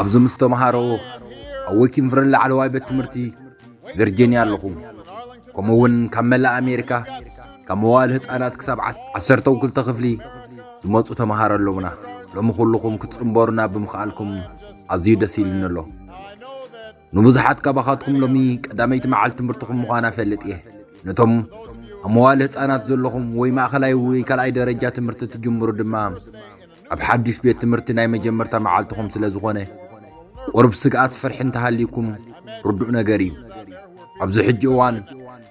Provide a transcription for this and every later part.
ኣብዚ ምስ ተምሃሮ ኣብ ዊኪንቭርን ላዕለዋይ ቤት ትምህርቲ ቨርጂንያ ኣለኹ ከምኡ እውን ካብ መላእ ኣሜሪካ ካብ መዋእል ህፃናት ክሳብ ዓሰርተው ክልተ ክፍሊ ዝመፁ ተምሃሮ ኣለውና ሎሚ ኩልኹም ክትፅምበሩና ብምኽኣልኩም ኣዝዩ ደስ ኢሉኒ ኣሎ ንብዙሓት ካባኻትኩም ሎሚ ቀዳመይቲ መዓልቲ ትምህርትኹም ምዃና ፈልጥ እየ ነቶም ኣብ መዋል ህፃናት ዘለኹም ወይ ማእኸላይ ወይ ካልኣይ ደረጃ ትምህርቲ ትጅምሩ ድማ ኣብ ሓድሽ ቤት ትምህርቲ ናይ መጀመርታ መዓልትኹም ስለ ዝኾነ ቁሩብ ስግኣት ፍርሒ እንተሃልዩኩም ርዱእ ነገር እዩ። ኣብዚ ሕጂ እዋን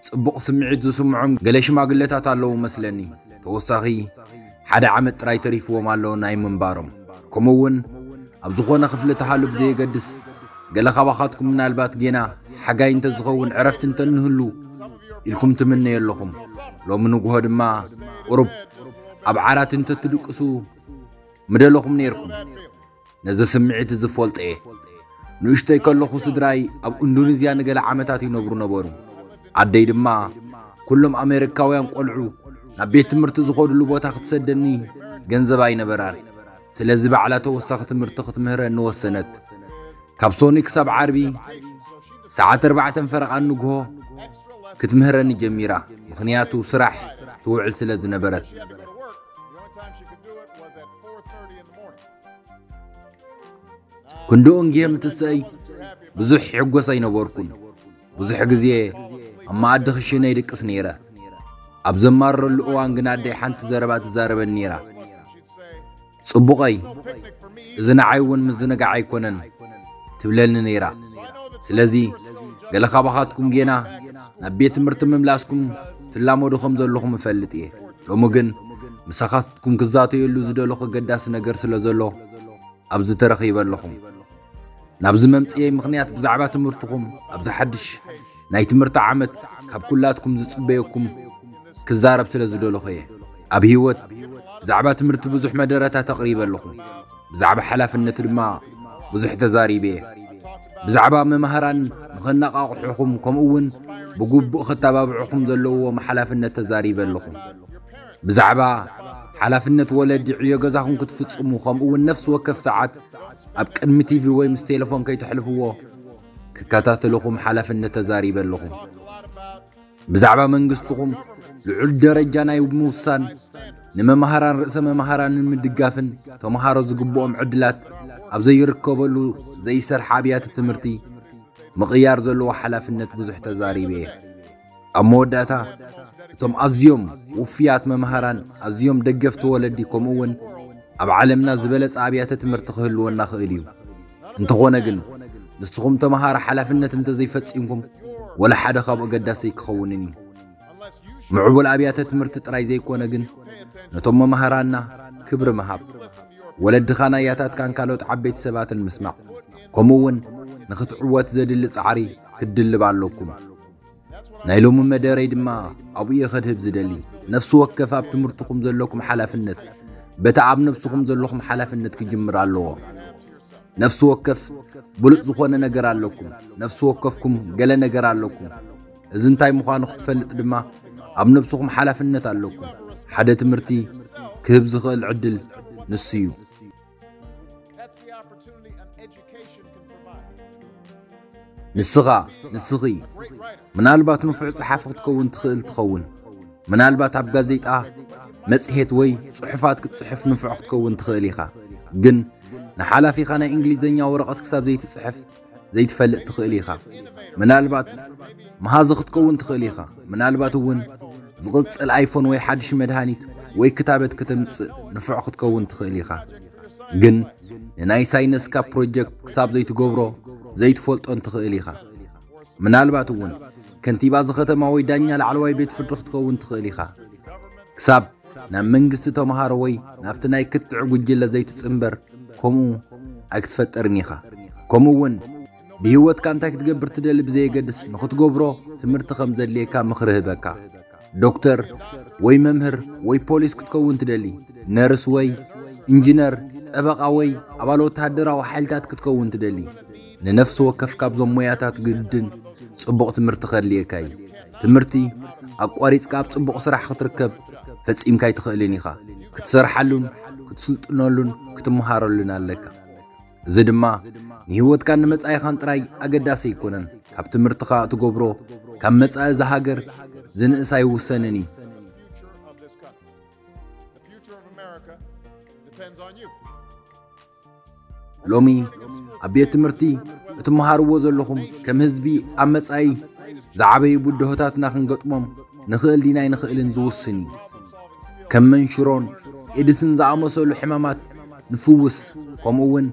ጽቡቕ ስምዒት ዝስምዖም ገለ ሽማግለታት ኣለዉ መስለኒ፣ ተወሳኺ ሓደ ዓመት ጥራይ ተሪፍዎም ኣሎ ናይ ምንባሮም። ከምኡ እውን ኣብ ዝኾነ ክፍሊ ተሃሉ ብዘየገድስ ገለ ካባኻትኩም ምናልባት ጌና ሓጋይ እንተዝኸውን ዕረፍቲ እንተንህሉ ኢልኩም ትምነዩ ኣለኹም። ሎሚ ንጉሆ ድማ ቁሩብ ኣብ ዓራት እንተ ትድቅሱ ምደለኹም ነይርኩም። ነዚ ስምዒት እዚ እፈልጦ እየ። ንእሽቶይ ከለኹ ስድራይ ኣብ ኢንዶኔዝያ ንገለ ዓመታት ይነብሩ ነበሩ። ኣደይ ድማ ኩሎም ኣሜሪካውያን ቆልዑ ናብ ቤት ትምህርቲ ዝኸድሉ ቦታ ክትሰደኒ ገንዘብ ኣይነበራን። ስለዚ ባዕላ ተወሳኺ ትምህርቲ ክትምህረኒ ወሰነት። ካብ ሶኒ ክሳብ ዓርቢ ሰዓት ኣርባዕተን ፈረቓን ንግሆ ክትምህረኒ ጀሚራ ምኽንያቱ ስራሕ ትውዕል ስለ ዝነበረት ክንድኡን ግየ ምትስእይ ብዙሕ ሕጎስ ኣይነበርኩን ብዙሕ ግዜ ኣብ መኣዲ ክሽነ ይድቅስ ነይረ ኣብ ዘማረሉ እዋን ግና ኣደይ ሓንቲ ዘረባ ትዛረበን ነይራ ጽቡቀይ እዚ ንዓይ ውን ምዝንጋዕ ኣይኮነን ትብለኒ ነይራ ስለዚ ገለ ካባኻትኩም ጌና ናብ ቤት ትምህርቲ ምምላስኩም ትላመዱ ከም ዘለኹም እፈልጥ እየ ሎሚ ግን ምሳኻትኩም ክዛተየሉ ዝደለኹ ገዳሲ ነገር ስለ ዘሎ ኣብዚ ተረኺበ ኣለኹም ናብዚ መምጽኤይ ምኽንያት ብዛዕባ ትምህርትኹም ኣብዚ ሓድሽ ናይ ትምህርቲ ዓመት ካብ ኩላትኩም ዝጽበየኩም ክዛረብ ስለ ዝደለኹ እየ ኣብ ህይወት ብዛዕባ ትምህርቲ ብዙሕ መደረታት ኣቕሪበ ኣለኹ ብዛዕባ ሓላፍነት ድማ ብዙሕ ተዛሪበ እየ ብዛዕባ መማህራን ንኸነቓቕሑኹም ከምኡ እውን ብግቡእ ክተባብዑኹም ዘለዎም ሓላፍነት ተዛሪበ ኣለኹ ብዛዕባ ሓላፍነት ወለዲ ዕዮ ገዛኹም ክትፍጽሙ ከምኡ እውን ነፍሲ ወከፍ ሰዓት ኣብ ቅድሚ ቲቪ ወይ ምስ ቴሌፎን ከይተሕልፍዎ ክከታተለኹም ሓላፍነት ተዛሪበ ኣለኹ። ብዛዕባ መንግስትኹም ልዑል ደረጃ ናይ ምውሳን ንመማህራን ርእሰ መማህራንን ምድጋፍን ተምሃሮ ዝግብኦም ዕድላት ኣብ ዘይርከበሉ ዘይሰርሐ ኣብያተ ትምህርቲ ምቕያር ዘለዎ ሓላፍነት ብዙሕ ተዛሪበ እየ። ኣብ መወዳእታ እቶም ኣዝዮም ውፍያት መምሃራን ኣዝዮም ደገፍቲ ወለዲ ከምኡ እውን ኣብ ዓለምና ዝበለጸ ኣብያተ ትምህርቲ ክህልወና ክእል እዩ እንተኾነ ግን ንስኹም ተምሃሮ ሓላፍነት እንተዘይፈጺምኩም ወላ ሓደ ካብኡ ኣገዳሲ ኣይክኸውንን እዩ ምዕቡል ኣብያተ ትምህርቲ ጥራይ ዘይኮነ ግን ነቶም መምሃራና ክብሪ ምሃብ ወለድኻን ኣያታትካን ካልኦት ዓበይቲ ሰባትን ምስማዕ ከምኡ እውን ንኽትዕወት ዘድሊ ጻዕሪ ክትድልብ ኣለኩም ናይ ሎሚ መደረይ ድማ ኣብኡ እየ ከድህብ ዝደሊ ነፍሲ ወከፍ ኣብ ትምህርትኹም ዘለኩም ሓላፍነት በቲ ኣብ ነብስኹም ዘለኹም ሓላፍነት ክጅምር ኣለዎ ነፍሲ ወከፍ ብሉፅ ዝኾነ ነገር ኣለኩም ነፍሲ ወከፍኩም ገለ ነገር ኣለኩም እዚ እንታይ ምዃኑ ክትፈልጥ ድማ ኣብ ነብስኹም ሓላፍነት ኣለኩም ሓደ ትምህርቲ ክህብ ዝኽእል ዕድል ንሱ እዩ ንስኻ ንስኺ ምናልባት ንፉዕ ጸሓፊ ክትከውን ትኽእል ትኸውን ምናልባት ኣብ ጋዜጣ መጽሔት ወይ ጽሑፋት ክትጽሕፍ ንፉዕ ክትከውን ትኽእል ኢኻ ግን ንሓላፊኻ ናይ እንግሊዝኛ ወረቐት ክሳብ ዘይትጽሕፍ ዘይትፈልጥ ትኽእል ኢኻ። ምናልባት መሃዚ ክትከውን ትኽእል ኢኻ፣ ምናልባት እውን ዝቕጽል ኣይፎን ወይ ሓድሽ መድሃኒት ወይ ክታበት ከተምጽእ ንፉዕ ክትከውን ትኽእል ኢኻ። ግን ንናይ ሳይነስካ ፕሮጀክት ክሳብ ዘይትገብሮ ዘይትፈልጦን ትኽእል ኢኻ። ምናልባት እውን ከንቲባ እዚ ከተማ ወይ ዳኛ ላዕለዋይ ቤት ፍርዲ ክትከውን ትኽእል ኢኻ። ክሳብ ናብ መንግስቲ ተምሃሮ ወይ ናብቲ ናይ ክትዕ ጉጅለ ዘይትጽንበር ከምኡ ኣይክትፈጠርን ኢኻ ከምኡ እውን ብህይወትካ እንታይ ክትገብር ትደሊ ብዘየገድስ ንኽትገብሮ ትምህርቲ ከም ዘድልየካ ምኽሪ ህበካ ዶክተር ወይ መምህር ወይ ፖሊስ ክትከውን ትደሊ ነርስ ወይ እንጅነር ጠበቓ ወይ ኣባል ወተሃደራዊ ሓይልታት ክትከውን ትደሊ ንነፍሲ ወከፍ ካብዞም ሞያታት ግድን ጽቡቕ ትምህርቲ ከድልየካ እዩ። ትምህርቲ ኣቋሪጽካ ኣብ ጽቡቕ ስራሕ ክትርከብ ፈጺምካ ኣይትኽእልን ኢኻ። ክትሰርሓሉን ክትስልጥነሉን ክትመሃረሉን ኣለካ። እዚ ድማ ንህይወትካን ንመጻኢኻን ጥራይ ኣገዳሲ ኣይኮነን። ካብ ትምህርትኻ እትገብሮ ካብ መጻኢ እዛ ሃገር ዝንእስ ኣይውሰንን እዩ። ሎሚ ኣብ ቤት ትምህርቲ እትመሃርዎ ዘለኹም ከም ህዝቢ ኣብ መጻኢ ዝዓበዩ ብድሆታትና ክንገጥሞም ንኽእል ዲና ኣይንኽእልን ዝውስን እዩ ከም መንሽሮን ኤድስን ዝኣመሰሉ ሕማማት ንፍውስ ከምኡ እውን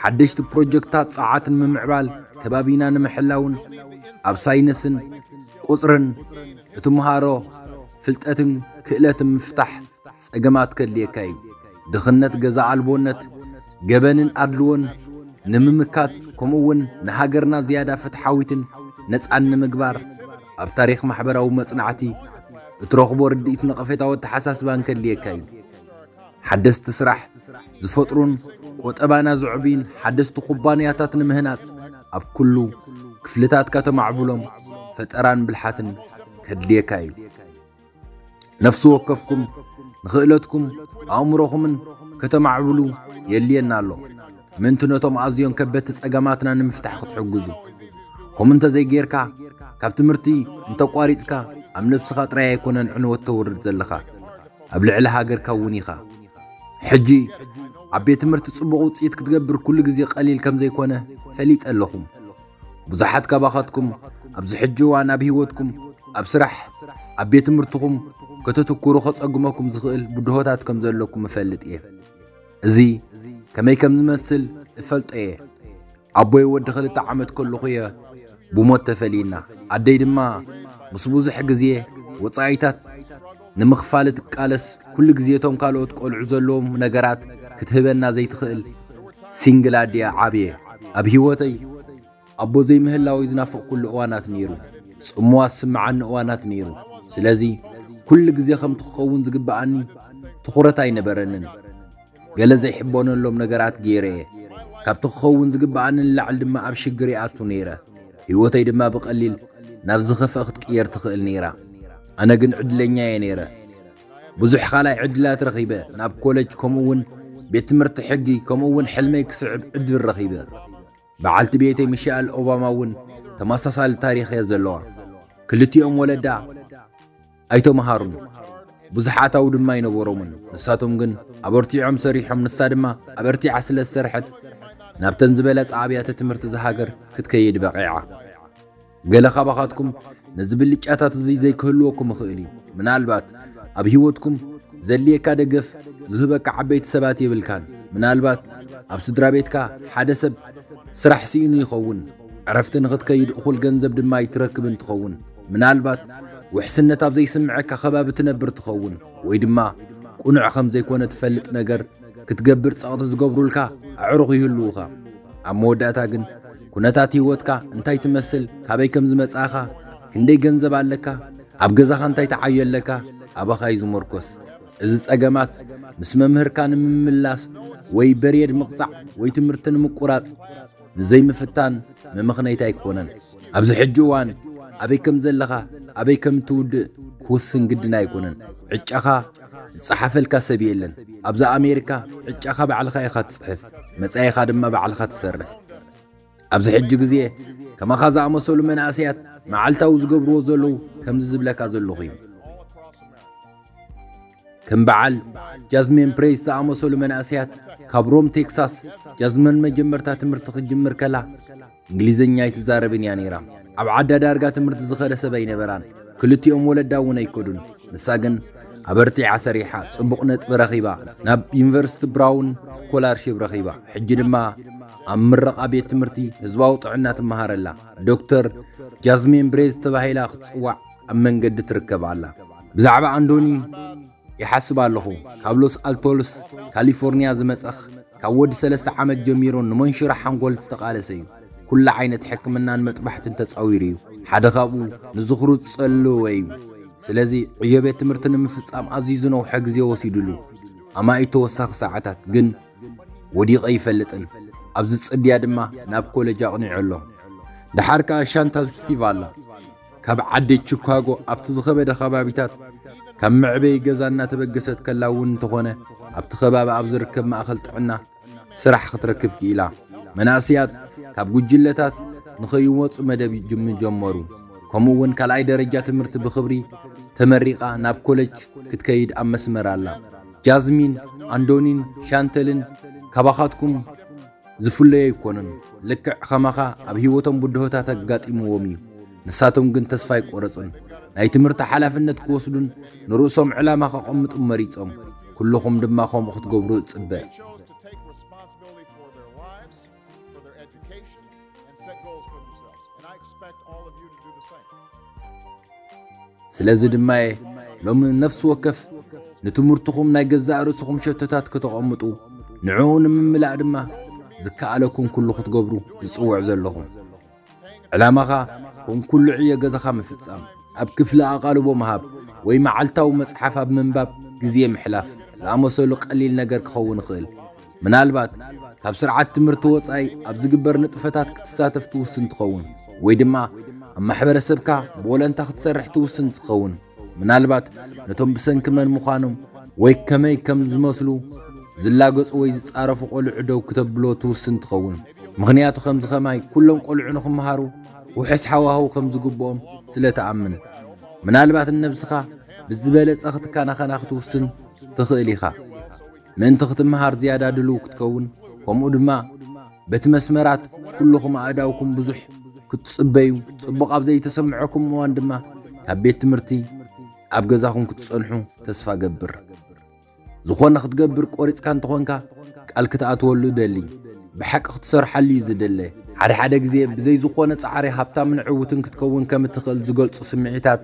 ሓደሽቲ ፕሮጀክታት ጸዓት ንምምዕባል ከባቢና ንምሕላውን ኣብ ሳይንስን ቁጽርን እትምሃሮ ፍልጠትን ክእለትን ምፍታሕ ጸገማት ከድልየካ እዩ ድኽነት፣ ገዛ ኣልቦነት፣ ገበንን ኣድልዎን ንምምካት ከምኡ እውን ንሃገርና ዝያዳ ፍትሓዊትን ነጻን ንምግባር ኣብ ታሪኽ ማሕበራዊ መጽናዕቲ እትረኽቦ ርድኢት ነቐፌታዊ ኣተሓሳስባን ከድልየካ እዩ። ሓደስቲ ስራሕ ዝፈጥሩን ቆጠባና ዘዕብዩን ሓደስቲ ኩባንያታት ንምህናጽ ኣብ ኩሉ ክፍልታትካ ተማዕብሎም ፈጠራን ብልሓትን ከድልየካ እዩ። ነፍሲ ወከፍኩም ንኽእለትኩም ኣእምሮኹምን ከተማዕብሉ የድልየና ኣሎ ምእንቲ ነቶም ኣዝዮም ከበድቲ ጸገማትና ንምፍታሕ ክትሕግዙ ከምኡ እንተዘይጌርካ ካብ ትምህርቲ እንተቋሪጽካ ኣብ ነብስኻ ጥራይ ኣይኮነን ዕንወት ተውርድ ዘለኻ ኣብ ልዕሊ ሃገርካ እውን ኢኻ ሕጂ ኣብ ቤት ትምህርቲ ጽቡቕ ውጽኢት ክትገብር ኩሉ ግዜ ቐሊል ከም ዘይኮነ ፈሊጠ ኣለኹም ብዙሓት ካባኻትኩም ኣብዚ ሕጂ እዋን ኣብ ህይወትኩም ኣብ ስራሕ ኣብ ቤት ትምህርትኹም ከተትኩሩ ከጸግመኩም ዝኽእል ብድሆታት ከም ዘለኩም እፈልጥ እየ እዚ ከመይ ከም ዝመስል እፈልጦ እየ ኣቦይ ወዲ ክልተ ዓመት ከለኹ እየ ብሞት ተፈልዩና ኣደይ ድማ ምስ ብዙሕ ግዜ ወጻኢታት ንምኽፋል እትቃለስ ኩሉ ግዜ እቶም ካልኦት ቆልዑ ዘለዎም ነገራት ክትህበና ዘይትኽእል ሲንግል ኣዲኣ ዓብየ ኣብ ሂወተይ ኣቦ ዘይምህላወይ ዝናፈቅኩሉ እዋናት ኔሩ ጽምዋ ዝስምዓኒ እዋናት ኔሩ ስለዚ ኩሉ ግዜ ከምቲ ክኸውን ዝግብኣኒ ትኹረት ኣይነበረንን ገለ ዘይሕበነሎም ነገራት ገይረ እየ። ካብቲ ክኸውን ዝግብኣኒ ንላዕሊ ድማ ኣብ ሽግር ይኣቱ ነይረ፣ ህይወተይ ድማ ብቐሊል ናብ ዝኸፍኣ ክትቅየር ትኽእል ነይራ። ኣነ ግን ዕድለኛ እየ ነይረ። ብዙሕ ካልኣይ ዕድላት ረኺበ፣ ናብ ኮለጅ ከምኡ'ውን ቤት ትምህርቲ ሕጊ ከምኡ'ውን ሕልመይ ክስዕብ ዕድል ረኺበ። በዓልቲ ቤተይ ሚሸኣል ኦባማ እውን ተመሳሳሊ ታሪኽ እያ ዘለዋ። ክልቲኦም ወለዳ፣ ኣይተመሃሩን፣ ብዙሓት ኣው ድማ ኣይነበሮምን፣ ንሳቶም ግን ኣበርቲዖም ሰሪሖም፣ ንሳ ድማ ኣበርቲዓ ስለ ዝሰርሐት ናብተን ዝበለጻ ኣብያተ ትምህርቲ እዛ ሃገር ክትከይድ በቒዓ። ገለ ካባኻትኩም ነዚ ብልጫታት እዚ ዘይክህልወኩም ይኽእል እዩ። ምናልባት ኣብ ህይወትኩም ዘድልየካ ደገፍ ዝህበካ ዓበይቲ ሰባት የብልካን። ምናልባት ኣብ ስድራ ቤትካ ሓደ ሰብ ስራሕ ስኢኑ ይኸውን፣ ዕረፍቲ ንኽትከይድ እኹል ገንዘብ ድማ ኣይትረክብን ትኸውን። ምናልባት ውሕስነት ኣብ ዘይስምዐካ ከባቢ ትነብር ትኸውን፣ ወይ ድማ ቅኑዕ ከም ዘይኰነ ትፈልጥ ነገር ክትገብር ጸቕጢ ዝገብሩልካ ኣዕሩኽ ይህልዉኻ። ኣብ መወዳእታ ግን ኵነታት ህይወትካ እንታይ ትመስል፣ ካበይ ከም ዝመጻእካ፣ ክንደይ ገንዘብ ኣለካ፣ ኣብ ገዛኻ እንታይ ተዓዮ ኣለካ፣ ኣባኻ እዩ ዝምርኰስ። እዚ ጸገማት ምስ መምህርካ ንምምላስ ወይ በርየድ ምቕጻዕ ወይ ትምህርቲ ንምቍራጽ፣ ንዘይምፍታን መመኽነይታ ኣይኮነን። ኣብዚ ሕጂ እዋን ኣበይ ከም ዘለኻ፣ ኣበይ ከም እትውድእ ክውስን ግድን ኣይኮነን። ዕጫኻ ዝጸሓፈልካ ሰብ የለን። ኣብዛ ኣሜሪካ ዕጫኻ ባዕልኻ ኢኻ ትጽሕፍ፣ መጻኢኻ ድማ ባዕልኻ ትሰርሕ። ኣብዚ ሕጂ ግዜ ከማኻ ዝኣመሰሉ መናእሰያት መዓልታዊ ዝገብርዎ ዘለዉ ከምዚ ዝብለካ ዘለኹ እዩ። ከም በዓል ጃዝሚን ፕሬስ ዝኣመሰሉ መናእሰያት ካብ ሮም ቴክሳስ ጃዝመን መጀመርታ ትምህርቲ ክጅምር ከላ እንግሊዝኛ ኣይትዛረብን እያ ነይራ። ኣብ ዓዳ ዳርጋ ትምህርቲ ዝኸደ ሰብ ኣይነበራን። ክልቲኦም ወለዳ እውን ኣይከዱን። ንሳ ግን ኣበርቲዓ ሰሪሓ ጽቡቕ ነጥቢ ረኺባ ናብ ዩኒቨርሲቲ ብራውን ስኮላርሽፕ ረኺባ ሕጂ ድማ ኣብ ምረቓ ቤት ትምህርቲ ህዝባዊ ጥዕና ትመሃረላ ዶክተር ጃዝሚን ብሬዝ ተባሂላ ክትጽዋዕ ኣብ መንገዲ ትርከብ ኣላ። ብዛዕባ ኣንዶኒ ይሓስብ ኣለኹ። ካብ ሎስ ኣልቶልስ ካሊፎርንያ ዝመጸኽ ካብ ወዲ ሰለስተ ዓመት ጀሚሩ ንመንሽሮ ሓንጎል ዝተቓለሰ እዩ። ኩሉ ዓይነት ሕክምናን መጥባሕትን ተጻዊሩ እዩ። ሓደ ካብኡ ንዝኽሩ ዝጸለወ እዩ። ስለዚ ዕዮ ቤት ትምህርቲ ንምፍጻም ኣዝዩ ዝነውሐ ግዜ ወሲዱሉ። ኣማኢት ተወሳኺ ሰዓታት ግን ወዲቐ ይፈልጥን ኣብዚ ጽድያ ድማ ናብ ኮለጅ ኣቕኒዑ ኣሎ። ደሓር ከኣ ሻንታል ስቲቭ ኣላ። ካብ ዓዲ ቺካጎ ኣብቲ ዝኸበደ ከባቢታት ካብ መዕበዪ ገዛ እናተበገሰት ከላ እውን እንተኾነ ኣብቲ ከባቢ ኣብ ዝርከብ ማእኸል ጥዕና ስራሕ ክትረክብ ክኢላ። መናእስያት ካብ ጉጅለታት ንኸይወፁ መደብ ምጀመሩ ከምኡ እውን ካልኣይ ደረጃ ትምህርቲ ብኽብሪ ተመሪቓ ናብ ኮለጅ ክትከይድ ኣብ መስመር ኣላ። ጃዝሚን፣ ኣንዶኒን ሻንተልን ካባኻትኩም ዝፍለዩ ኣይኮኑን። ልክዕ ኸማኻ ኣብ ህይወቶም ብድሆታት ኣጋጢምዎም እዩ። ንሳቶም ግን ተስፋ ኣይቈረጹን። ናይ ትምህርቲ ሓላፍነት ክወስዱን ንርእሶም ዕላማ ከቐምጡን መሪጾም። ኩሉኹም ድማ ከምኡ ክትገብሩ እጽበ። ስለዚ ድማ እየ ሎሚ ነፍሲ ወከፍ ንትምህርትኹም ናይ ገዛእ ርእስኹም ሸቶታት ከተቐምጡ ንዕኡ ንምምላእ ድማ ዝከኣለኩም ኩሉ ክትገብሩ ዝጽውዕ ዘለኹ ዕላማኻ ከም ኩሉ ዕዮ ገዛኻ ምፍጻም ኣብ ክፍሊ ኣቓልቦ ምሃብ ወይ መዓልታዊ መጽሓፍ ኣብ ምንባብ ግዜ ምሕላፍ ዝኣመሰሉ ቀሊል ነገር ክኸውን ይኽእል ምናልባት ካብ ስርዓት ትምህርቲ ወጻኢ ኣብ ዝግበር ንጥፈታት ክትሳተፍ ትውስን ትኸውን ወይ ድማ ኣብ ማሕበረሰብካ ብወለንታ ክትሰርሕ ትውስን ትኸውን። ምናልባት ነቶም ብሰንኪ መን ምዃኖም ወይ ከመይ ከም ዝመስሉ ዝላገጹ ወይ ዝጻረፉ ቆልዑ ደው ክተብሎ ትውስን ትኸውን። ምኽንያቱ ከምዚ ከማይ ኩሎም ቆልዑ ንኽምሃሩ ውሑስ ሓዋህው ከም ዝግብኦም ስለ ትኣምን ምናልባት ንነብስኻ ብዝበለጸ ክትከናኸና ክትውስን ትኽእል ኢኻ። ምእንቲ ክትመሃር ዝያዳ ድልው ክትከውን ከምኡ ድማ በቲ መስመራት ኩልኹም ኣእዳውኩም ብዙሕ ክትጽበዩ ጽቡቕ ኣብ ዘይተሰምዐኩም እዋን ድማ ካብ ቤት ትምህርቲ ኣብ ገዛኹም ክትጸንሑ ተስፋ ገብር ዝኾነ ክትገብር ቆሪጽካ እንተኾንካ ቃል ክትኣትወሉ ደሊ ብሓቂ ክትሰርሓሉ እዩ ዝደለ ሓደ ሓደ ግዜ ብዘይ ዝኾነ ጻዕሪ ሃብታምን ዕውትን ክትከውን ከም እትኽእል ዝገልጹ ስምዒታት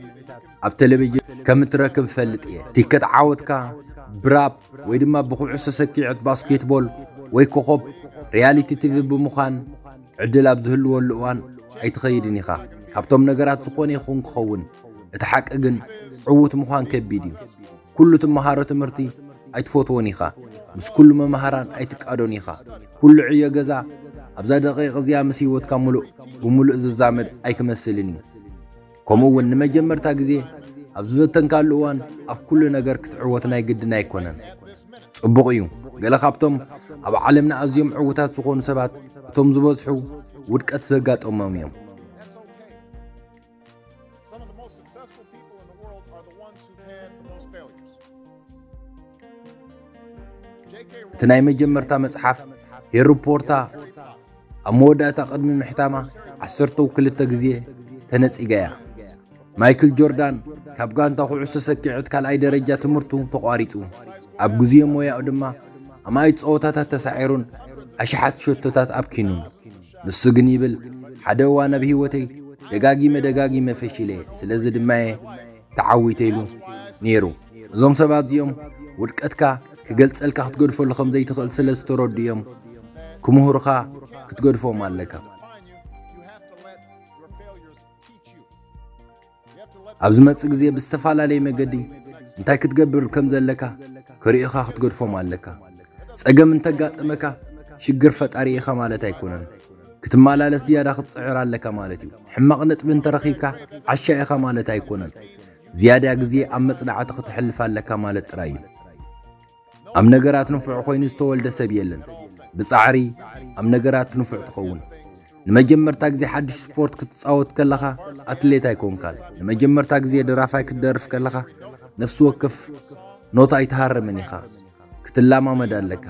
ኣብ ቴሌቪዥን ከም እትረክብ እፈልጥ እየ ቲከት ዓወትካ ብራፕ ወይ ድማ ብኩዕሶ ሰኪዐት ባስኬትቦል ወይ ኮኾብ ሪያሊቲ ቲቪ ብምዃን ዕድል ኣብ ዝህልወሉ እዋን ኣይትኸይድን ኢኻ ካብቶም ነገራት ዝኾነ ይኹን ክኸውን እቲ ሓቂ ግን ዕዉት ምዃን ከቢድ እዩ ኩሉ ትመሃሮ ትምህርቲ ኣይትፈትዎን ኢኻ ምስ ኩሉ መምሃራን ኣይትቃዶን ኢኻ ኩሉ ዕዮ ገዛ ኣብዛ ደቂቕ እዚኣ ምስ ህይወትካ ምሉእ ብምሉእ ዝዛመድ ኣይክመስልን እዩ ከምኡ እውን ንመጀመርታ ግዜ ኣብ ዝፈተንካሉ እዋን ኣብ ኩሉ ነገር ክትዕወት ናይ ግድን ኣይኮነን። ጽቡቕ እዩ፣ ገለ ካብቶም ኣብ ዓለምና ኣዝዮም ዕውታት ዝኾኑ ሰባት እቶም ዝበዝሑ ውድቀት ዘጋጠሞም እዮም። እቲ ናይ መጀመርታ መጽሓፍ ሄሪ ፖርታ ኣብ መወዳእታ ቅድሚ ምሕታማ ዓሰርተው ክልተ ግዜ ተነጺጋ እያ። ማይክል ጆርዳን ካብ ጋንታ ኩዕሶ ሰኪዐት ካልኣይ ደረጃ ትምህርቱ ተቋሪጹ፣ ኣብ ግዜ ሞያኡ ድማ ኣማኢት ጸወታታት ተሳዒሩን ኣሽሓት ሸቶታት ኣብኪኑን። ንሱ ግን ይብል ሓደ እዋን ኣብ ህይወተይ ደጋጊመ ደጋጊመ ፈሺለ፣ ስለዚ ድማ እየ ተዓዊተ ኢሉ ነይሩ። እዞም ሰባት እዚኦም ውድቀትካ ክገልጸልካ ክትገድፈሉ ከም ዘይትኽእል ስለ ዝተረዱ እዮም ክምህሩኻ ክትገድፎም ኣለካ። ኣብ ዝመጽእ ግዜ ብዝተፈላለየ መገዲ እንታይ ክትገብር ከም ዘለካ ክርእኻ ክትገድፎም ኣለካ። ጸገም እንተጋጠመካ ሽግር ፈጣሪ ኢኻ ማለት ኣይኮነን። ክትመላለስ ዝያዳ ክትጽዕር ኣለካ ማለት እዩ። ሕማቕ ነጥቢ እንተረኺብካ ዓሻ ኢኻ ማለት ኣይኮነን። ዝያዳ ግዜ ኣብ መጽናዕቲ ኽተሕልፍ ኣለካ ማለት ጥራይ እዩ። ኣብ ነገራት ንፉዕ ዀይኑ ዝተወልደ ሰብ የለን። ብጻዕሪ ኣብ ነገራት ንፉዕ ትኸውን። ንመጀመርታ ግዜ ሓድሽ ስፖርት ክትጻወት ከለኻ ኣትሌት ኣይኮንካን። ንመጀመርታ ግዜ ደራፋይ ክትደርፍ ከለኻ ነፍሲ ወከፍ ኖት ኣይትሃርምን ኢኻ። ክትለማመድ ኣለካ።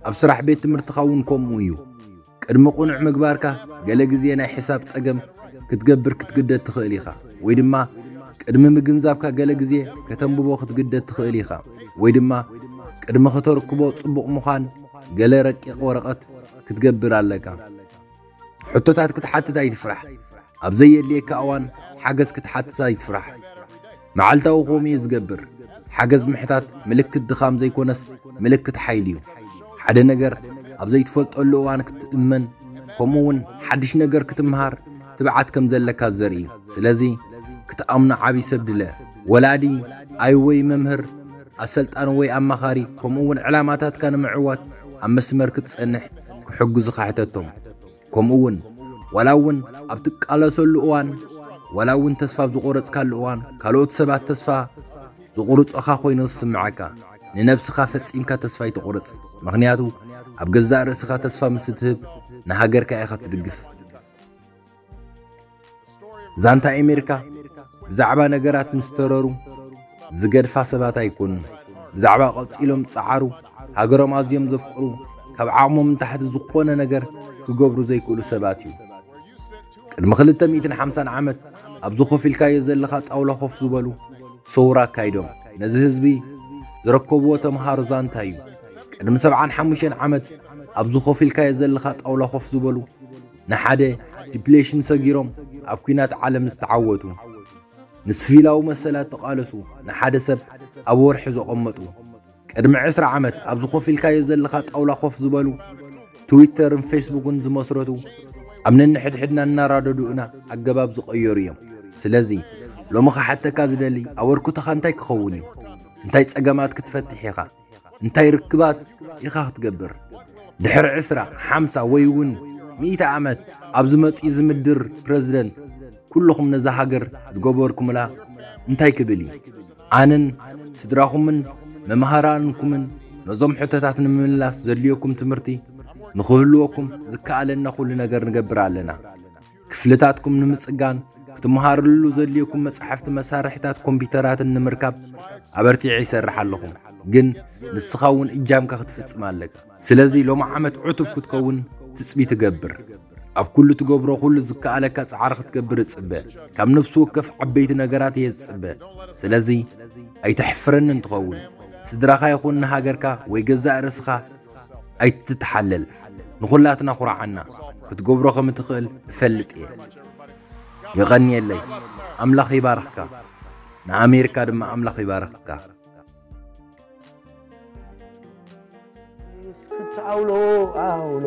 ኣብ ስራሕ ቤት ትምህርትኻ እውን ከምኡ እዩ። ቅድሚ ቕኑዕ ምግባርካ ገለ ግዜ ናይ ሕሳብ ጸገም ክትገብር ክትግደድ ትኽእል ኢኻ፣ ወይ ድማ ቅድሚ ምግንዛብካ ገለ ግዜ ከተንብቦ ክትግደድ ትኽእል ኢኻ፣ ወይ ድማ ቅድሚ ከተርክቦ ጽቡቕ ምዃን ገለ ረቂቕ ወረቐት ክትገብር ኣለካ። ሕቶታት ክትሓትት ኣይትፍራሕ፣ ኣብ ዘየድልየካ እዋን ሓገዝ ክትሓትት ኣይትፍራሕ። መዓልታዊ ከምኡ እየ ዝገብር። ሓገዝ ምሕታት ምልክት ድኻም ዘይኮነስ ምልክት ሓይሊ እዩ። ሓደ ነገር ኣብ ዘይትፈልጠሉ እዋን ክትእመን ከምኡ እውን ሓድሽ ነገር ክትምሃር ትብዓት ከም ዘለካ ዘርኢ እዩ። ስለዚ ክትኣምኖ ዓብዪ ሰብ ድለ። ወላዲ፣ ኣይ ወይ መምህር፣ ኣሰልጣኒ ወይ ኣማኻሪ፣ ከምኡ እውን ዕላማታትካ ንምዕዋት ኣብ መስመር ክትጸንሕ ክሕግዙኻ ሕተቶም። ከምኡ እውን ዋላ እውን ኣብ ትቃለሰሉ እዋን ዋላ እውን ተስፋ ኣብ ዝቖረጽካሉ እዋን ካልኦት ሰባት ተስፋ ዝቑርጾኻ ኮይኑ ዝስምዐካ ንነብስኻ ፈጺምካ ተስፋ ኣይተቑርጽ ምኽንያቱ ኣብ ገዛእ ርእስኻ ተስፋ ምስ እትህብ ንሃገርካ ኢኻ ትድግፍ ዛንታ ኣሜሪካ ብዛዕባ ነገራት ምስ ተረሩ ዝገድፋ ሰባት ኣይኮኑን። ብዛዕባ ቀጺሎም ዝጸዓሩ፣ ሃገሮም ኣዝዮም ዘፍቅሩ፣ ካብ ዓቕሞም ንታሕቲ ዝኾነ ነገር ክገብሩ ዘይክእሉ ሰባት እዩ። ቅድሚ 250 ዓመት ኣብዚ ኮፍ ኢልካዮ ዘለኻ ጣውላ ኮፍ ዝበሉ ሰውራ ኣካይዶም ነዚ ህዝቢ ዝረከብዎ ተምሃሮ ዛንታ እዩ። ቅድሚ 75 ዓመት ኣብዚ ኮፍ ኢልካዮ ዘለኻ ጣውላ ኮፍ ዝበሉ ንሓደ ዲፕሌሽን ሰጊሮም ኣብ ኩናት ዓለም ዝተዓወቱ፣ ንስቪላዊ መሰላት ተቓለሱ፣ ንሓደ ሰብ ኣብ ወርሒ ዘቐመጡ፣ ቅድሚ ዕስራ ዓመት ኣብዚ ኮፍ ኢልካዮ ዘለኻ ጣውላ ኮፍ ዝበሉ፣ ትዊተርን ፌስቡክን ዝመስረቱ፣ ኣብ ነንሕድሕድና እናራደዱ እና ኣገባብ ዝቐየሩ እዮም። ስለዚ ሎሚ ክሓተካ ዝደሊ ኣበርኩተኻ እንታይ ክኸውን እዩ? እንታይ ጸገማት ክትፈትሕ ኢኻ? እንታይ ርክባት ኢኻ ክትገብር ድሕሪ ዕስራ ሓምሳ ወይ እውን ሚእቲ ዓመት ኣብ ዝመፅኡ ዝምድር ፕረዚደንት ኩልኹም ነዛ ሃገር ዝገበርኩምላ እንታይ ክብል እዩ ኣነን ስድራኹምን መምሃራንኩምን ነዞም ሕቶታት ንምምላስ ዘድልየኩም ትምህርቲ ንኽህልወኩም ዝከኣለና ኩሉ ነገር ንገብር ኣለና ክፍልታትኩም ንምጽጋን ክትመሃርሉ ዘድልየኩም መጻሕፍቲ መሳርሒታት ኮምፒውተራትን ንምርካብ ኣበርቲዐ ይሰርሕ ኣለኹ ግን ንስኻ እውን እጃምካ ክትፍጽም ኣለካ ስለዚ ሎሚ ዓመት ዕቱብ ክትከውን ትጽቢ ትገብር ኣብ ኩሉ ትገብሮ ኩሉ ዝከኣለካ ጻዕሪ ክትገብር እጽበ ካብ ነፍሲ ወከፍ ዓበይቲ ነገራት እየ ዝጽበ ስለዚ ኣይተሕፍረኒ እንትኸውን ስድራኻ ይኹን ንሃገርካ ወይ ገዛእ ርእስኻ ኣይትተሓለል ንኹላትና ኩርዓና ክትገብሮ ከም እትኽእል እፈልጥ እየ የቐንየለይ ኣምላኽ ይባርኽካ ንኣሜሪካ ድማ ኣምላኽ ይባርኽካ እስክትዓውሎ ዓውሎ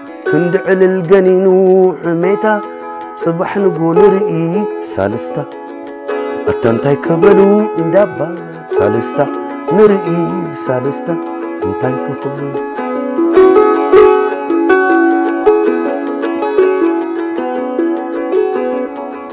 ክንዲ ዕልል ገኒኑ ሕሜታ ጽባሕ ንጎ ንርኢ ሳልስታ ኣታ እንታይ ከበሉ እንዳባ ሳልስታ ንርኢ ሳልስታ እንታይ ክኽብሉ